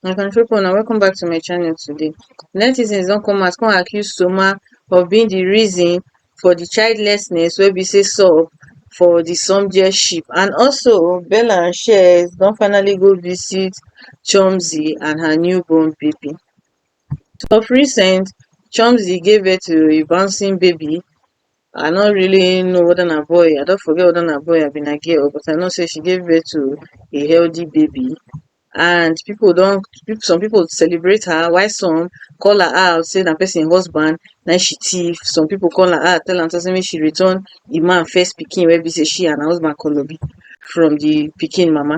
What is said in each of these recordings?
my country pipu una welcome back to my channel today. Netizens don come out come accuse Soma of being the reason for the childlessness wey be sey sup for the Somjie ship and also Bella and Shez don finally go visit Chomzy and her new born baby. of recent chomzy give birth to a bouncing baby i no really know weda na boy i don forget weda na boy abi na girl but i know say she gave birth to a healthy baby and pipo don some pipo celebrate her while some call her out say na pesin husband na im she tiff some pipo call her out tell am say make she return di man first pikin wey be say she and her husband kolobi from di pikin mama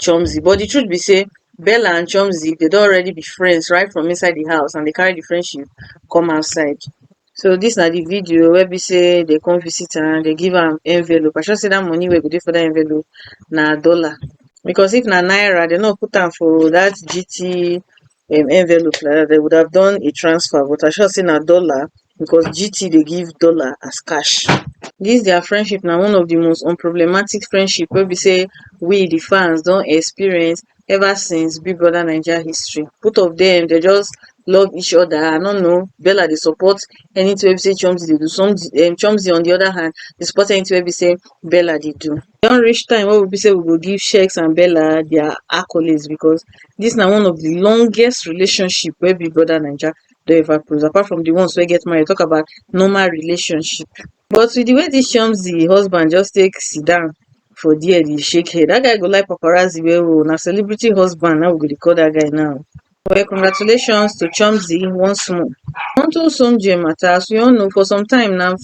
chomzy but di truth be say bella and chomzy dem don already be friends right from inside di house and dem carry di friendship come outside so dis na di video wey be say dem come visit am dem give am envelope i sure say dat money wey go dey for dat envelope na dollar because if na naira dem no go put am for dat GT im envelope like dat dem would have done a transfer but I sure sey na dollar because GT dey give dollar as cash. Dis dia friendship na one of di most unproblematic friendship wey be sey we di fans don experience ever since Big Brother Naija history. Both of dem dey just love each oda, I no know, Bella dey support anytin wey be sey Chimzy dey do, Chimzy on di oda hand dey support anytin wey be sey Bella dey do. E don reach time wey be sey we go give Sheegs and Bella their accolades because dis na one of de longest relationship wey Big Brother Naija don ever produce apart from de ones wey get marriage talk about normal relationship. But with de way dis Chomzy husband just take sit down for there dey shake head dat guy go like paparazzi well well oo na celebrity husband na im we go dey call dat guy now. Well, congratulations to Chomzi once more. Onto Somje matter, as we all know, for some time now, um,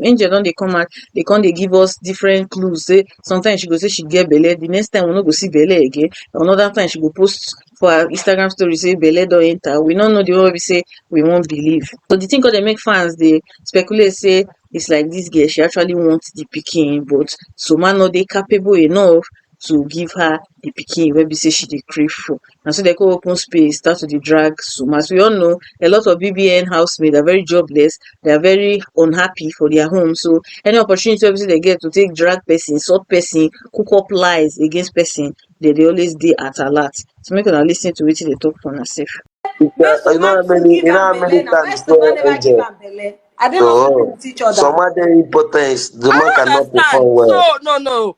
Angel don dey come out, they come dey give us different clues. Say sometimes she go say she get belle, the next time we no go see belle again. Another time she go post for her Instagram story say belle don enter. We no know the one wey be say we won't believe. So the thing called they make fans they speculate say it's like this girl, she actually wants the picking, but Soma no dey capable enough to give her the pikin wey be sey she dey crave for. Na so dem con open space start to dey drag Suma. As we all know, a lot of BBN house mate are very jobless, they are very unhappy for their home. So, any opportunity wey be sey dem get to take drag person, insult person, cook up lies against person, dem dey always dey at alert. So, make una lis ten to wetin dem talk for una self. You know how many, you know how many times you don angel? Are they not Oh, sleeping with each other? Soma dey impotence, the man cannot perform well. So, no, no.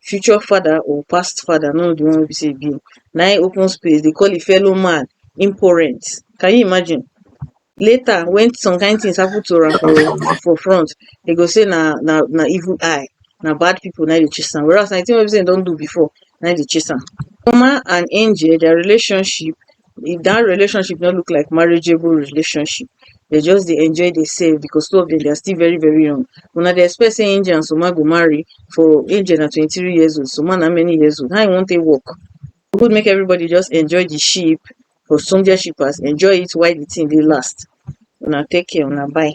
future father or past father no the one wey be sey e be na im open space dey call im fellow man impourent can you imagine later when some kind things happen to am for for front dem go sey na na na evil eye na bad people na im dey chase am whereas na the thing wey be sey im don do before na im dey chase am. Ipoma and angel their relationship if that relationship no look like marriageable relationship they just dey enjoy dey save because two of them they are still very very young una dey expect say angel and soma go marry for angel na twenty three years old soma na how many years old how you wan take work good make everybody just enjoy the ship for soldier shippers enjoy it while the thing dey last una take care una bye.